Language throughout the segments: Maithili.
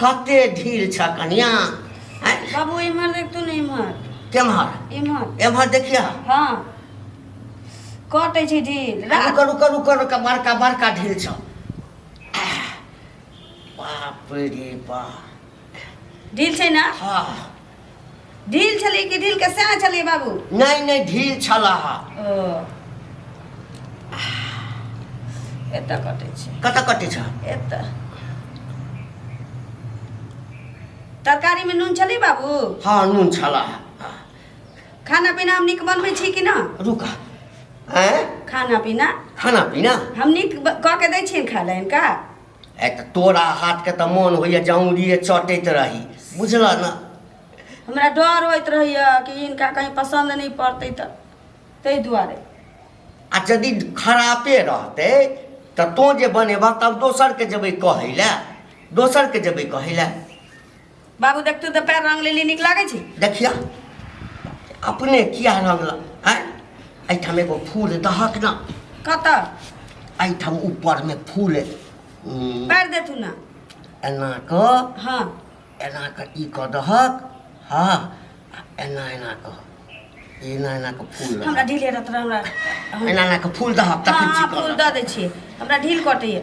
कते ढील छ कनिया बाबू इमहर देख तू ने इमहर केमहर इमहर एमहर देखिया हां कटे छै ढील रुक रुक रुक रुक बड़का बड़का ढील छ बाप रे बाप ढील छै ना हां ढील छली कि ढील के सेना छली बाबू नहीं नहीं ढील छला हा ओ एतऽ कटै छै कतऽ कटे छ एतऽ तरकारी में नून छली बाबू हाँ नून छला हा खाना पीना हम नीक बनबै छी कि ना रुका हैं खाना पीना खाना पीना हम नीक ब- कऽ के दै छियनि खाय लए हिनका आइ तऽ तोरा हाथके तऽ मोन होइए जौंगड़िए चटैत रही बुझलऽ ने हमरा डर होइत रहैए कि हिनका कहीं पसन्द नहि पड़तै तऽ ताहि दुआरे आ यदि खरापे रहतै तऽ तोँ जे बनेबह तब दोसरके जेबै कहै लए दोसरके जेबै कहै लए बाबू देख तू तऽ पैर रंग लेली नीक लागै छै देखिया अपने किया रंगला आय एहिठाम एगो फूल दहक ना कतऽ एहिठाम ऊपरमे फूल उम, पैर दे तू ना एना कऽ हाँ एना कऽ ई कऽ दहक हाँ आ एना एना कऽ एना एना कऽ फूल हमरा दहक ढील हेरत रह हमरा एना एना कऽ फूल दहक तखन हाँ फूल चिकन दऽ दै छियै हमरा ढील कटैए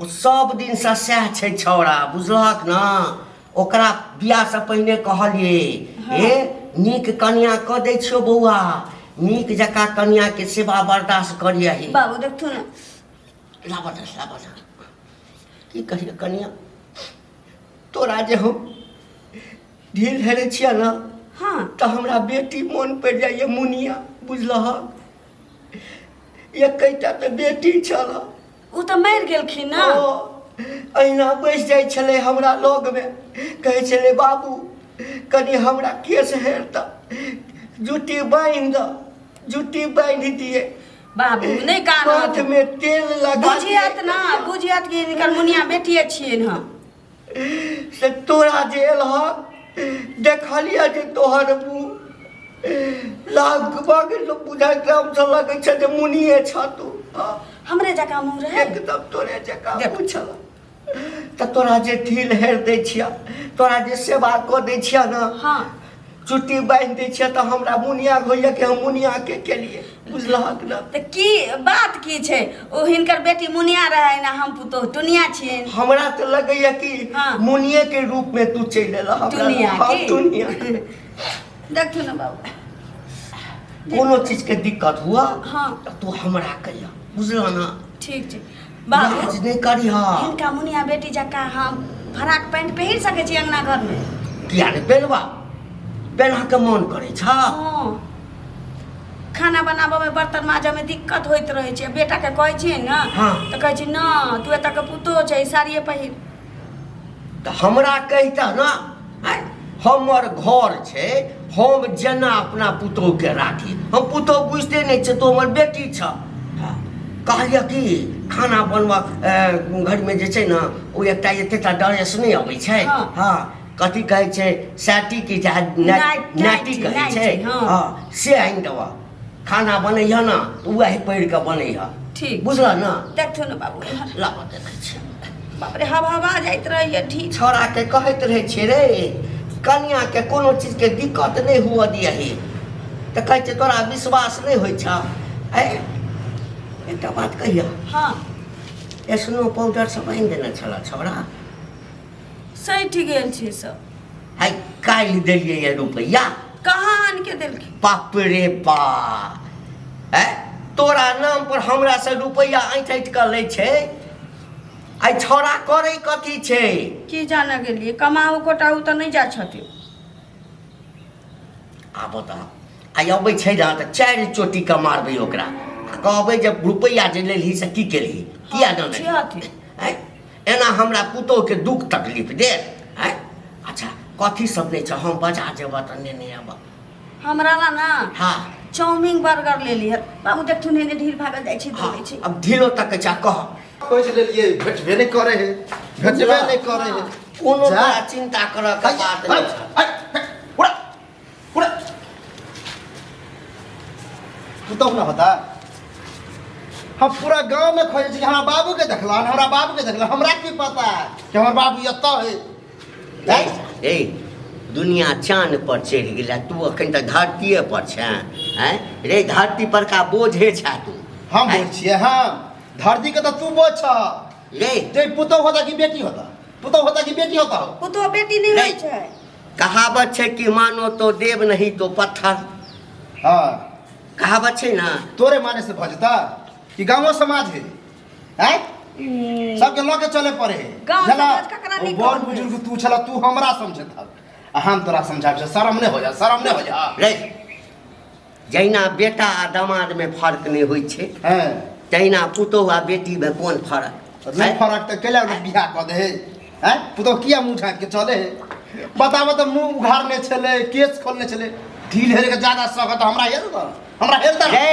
ओ सब दिनसँ सएह छै छौड़ा बुझलहक ने ओकरा बियाहसँ पहिने कहलिए हे नीक कनिया कऽ दै छियौ बौआ नीक जकाँ कनियाके सेवा बर्दाश्त करियही बाबू देखथु ने लाबऽ दे लाबऽ दे की कहिए कनिया तोरा जे हम ढील हेरे छियै ने हाँ तऽ हमरा बेटी मोन पड़ि जाइए मुनिया बुझलहक एकैटा तऽ बेटी छलह ओ तऽ मरि गेलखिन ने ओ अहिना बैस जाइ छलै हमरा लगमे कहै छलै बाबू कनि हमरा केस हेर तऽ जुट्टी बान्हि दऽ जुट्टी बान्हि दिए बाबू नहि कानत हाथमे तेल लगा बुझियत ने बुझियत कि हिनकर मुनिया बेटिए छियनि हँ से तोरा जे एलह देखलिए जे तोहर मुँह लगभग लोग बुझाइ ग्राम से लगै छै जे मुनिए छ तू हँ, हमरे जकाँ मुँह रहै एकदम तोरे जकाँ देख। पूछल तऽ तोरा जे ढील हेर दै छिया तोरा जे सेवा कऽ दै छिया ने हाँ। चुट्टी बांधि दै छियै तऽ हमरा मुनिया होइया कि हम मुनिया के केलिए बुझलहक ने तऽ की बात की छै ओ हिनकर बेटी मुनिया रहै ने हम पुतोह टुनिया छियै हमरा तऽ लगैया कि हाँ। मुनिये के रूप में तू चलि एलह हमरा टुनिया हाँ, की? टुनिया देखू ने बाबू कोनो चीज के दिक्कत हुआ हाँ। तऽ तू हमरा कहिया बुझलह ना ठीक छै बाबू लाज नहि करी हँ हिनका मुनिया बेटी जकाँ हम फराक पैंट पहिर सकै छी अंगना घरमे किया ने पेलवा पेलहाके मोन करै छ हँ। खाना बनाबऽमे बर्तन माजऽमे दिक्कत होइत रहै छै बेटाके कहै छियै ने हँ। तऽ कहै छै न तू एतऽ के पुतोह छै साड़िये पहिर तऽ हमरा कहिता ने हमर घर छै हम जेना अपना पुतोहके राखी हम पुतोह बुझते नहि छै तो हमर बेटी छ कहलियै कि खाना बनबऽ घरमे जे छै ने ओ एकटा एतेटा डरेस नहि अबै छै हँ, हँ कथी कहै छै सैटी की जा नाइटी कहै छै हँ से आनि देबऽ खाना बनैह ना तो वही पढ़ के बनैह ठीक बुझला ना देखो ना बाबू ला देना छै बाप रे हवा हवा जाइत रहैए ठीक छोरा के कहैत रहे छै रे कन्या के कोनो चीज के दिक्कत नहीं हुआ दिया ही तो कहे छै तोरा विश्वास नहीं हो छा है एकटा बात कहिया हाँ स्नो पाउडर सब आनि देना छला छोरा सही ठीक गेल छै सब है काल्हि देलियै ये रुपैआ कहाँ आनि के देलखिन बाप रे बा है तोरा नाम पर हमरा से रुपैआ ऐंठ ऐंठ कऽ लै छै आइ छौड़ा करै कथी छै की जाने गेलियै कमाउ कोटाउ तऽ नहि जाइ छथिन आब तऽ आइ अबै छै ने तऽ चारि चोटी कऽ मारबै ओकरा आ कहबै जे रुपैआ जे लेलही से की केलही किया नहि छै लेलही? अथी हैं? एना हमरा पुतोहके दुख तकलीफ दे आँय अच्छा कथी सब नहि छै हम बजा जेबह तऽ नेने अबह हमरा ला ना हँ चाउमिन बर्गर ले लिहर बाबू देख तू नेने ढील भागल जाइ छी दौड़ै छी अब ढीलो तक छै कह खोज लेलियै भेटबे नहि करे है भेटबे नहि करे है कोनो जा। बड़ा चिन्ता करऽ के बात नहि छै これपुतहु न होता हम पूरा गांव में खोजे छी कि हमरा बाबू के देखला हमरा बाबू के देखला हमरा की पता कि हमर बाबू एतऽ है हैं? ए दुनिया चान पर चढ़ि गेला तू अखन तऽ धरतीये पर छे हैं रे धरती पर का बोझे छा तू हम हैं? बोल छिए हम धरती के तऽ तू बोल छ रे ते पुतहु होता कि बेटी होता पुतहु होता कि बेटी होता हो पुतहु बेटी नहि रे। होइ छै कहावत छै कि मानो तो देव नहीं तो पत्थर हाँ कहावत छै ना तोरे माने से भऽ जेता कि गाँवो समाज है आँय सबके लऽ के चले पड़े है गाँव झला, समाज ककरा ओ नीक बड़ कहतै? बुजुर्ग तू छला तू हमरा समझे था आ हम तोरा समझाब शर्म नहि हो जा शर्म नहि हो जा रे जहिना बेटा आ दामादमे फर्क नहि होइ छै हँ तहिना पुतोहु आ बेटीमे कोन फर्क नहि फर्क तऽ कैला लोक बियाह कऽ दे है पुतोहु किया मुँह झाँक के चले है बताबऽ तऽ मुँह उघारने छलै केस खोलने छलै ढील हेर के जादा सकत हमरा हेल दऽ हमरा हेल दऽ रे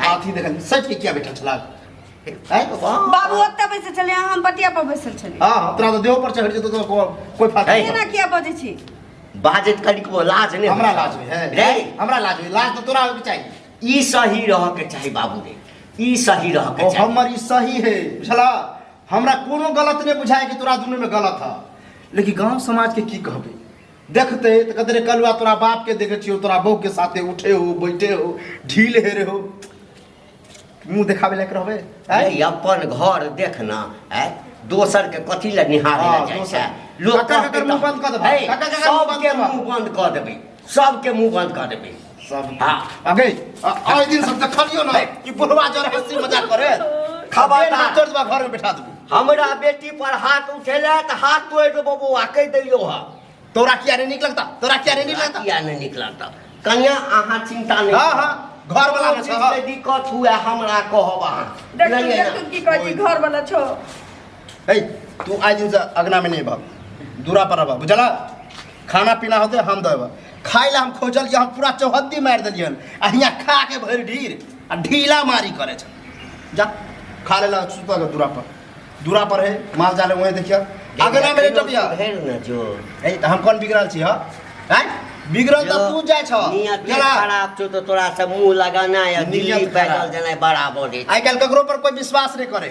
हाथी देखल सच के किया बैठल छला हैं बाबा बाबू ओतऽ बैसल छलै अहाँ हम पटिया पर बैसल छलियै हां तोरा तो देह पर चढ़ जेतो तो को- कोई फायदा है। एना किया बजै छी बाजत कनिक वो लाज नहीं हमरा होता। लाज होय है रे हमरा लाज होय लाज तो तोरा होय के चाहिए ई सही रह के चाही बाबू रे ई सही रह के ओ चाही हमर ई सही है बुझला हमरा कोनो गलत नहीं बुझाए कि तोरा दुनू में गलत है लेकिन गांव समाज के की कहबे देखते तो कहते रे कलुआ तोरा बाप के देखे छियो तोरा बहू के साथे उठे हो बैठे हो ढील हेरे हो मुंह देखावे लायक रहबे आय? अरे अपन घर देखना है दोसर के कथी ले निहारे हाँ, ले जाइ दोसर। छै लोग काका काकर कहतै मुँह तऽ- बंद कऽ देबै। है, काका काकर मुँह बंद सबके करबै। मुँह बंद कऽ देबै सबके मुंह बंद कऽ देबै सब हाँ अगे आए दिन सब देखलियो ना कि बुढ़वा जर हंसी मजाक करे खबर ना तोड़ देबा घर में बैठा देबो हमरा बेटी पर हाथ उठेला त हाथ तोड़ देबो बौआ कह देलियो हा तोरा किया नहीं निक लगता तोरा किया नहीं निक लगता किया नहीं निक लगता कन्या अहाँ चिंता नहीं हां हां घर वाला में सब हाँ। दिक्कत हुआ हमरा कहब अहाँ देख तू देख तू की कहै छी घर वाला छो ए तू आए दिन से अगना में नहीं भाग दूरा पर रह बुझला खाना पीना होते हम देव खाए हम खोजल हम पूरा चौहद्दी मार दिलिय आ हियाँ खा के भर ढीर आ ढीला मारी करे जा खा ले सुता दूरा पर दूरा पर है माल जाले वहीं देखिए अगर ना मेरे टपिया जो तो हम कौन बिगड़ल छी हाँ बिगड़ल तो तू जाय छ केला खराब छ तो तोरा सब मुंह लगाना या दिल्ली पैदल जाना बराबर है आइ काल ककरो पर कोई विश्वास नहीं करे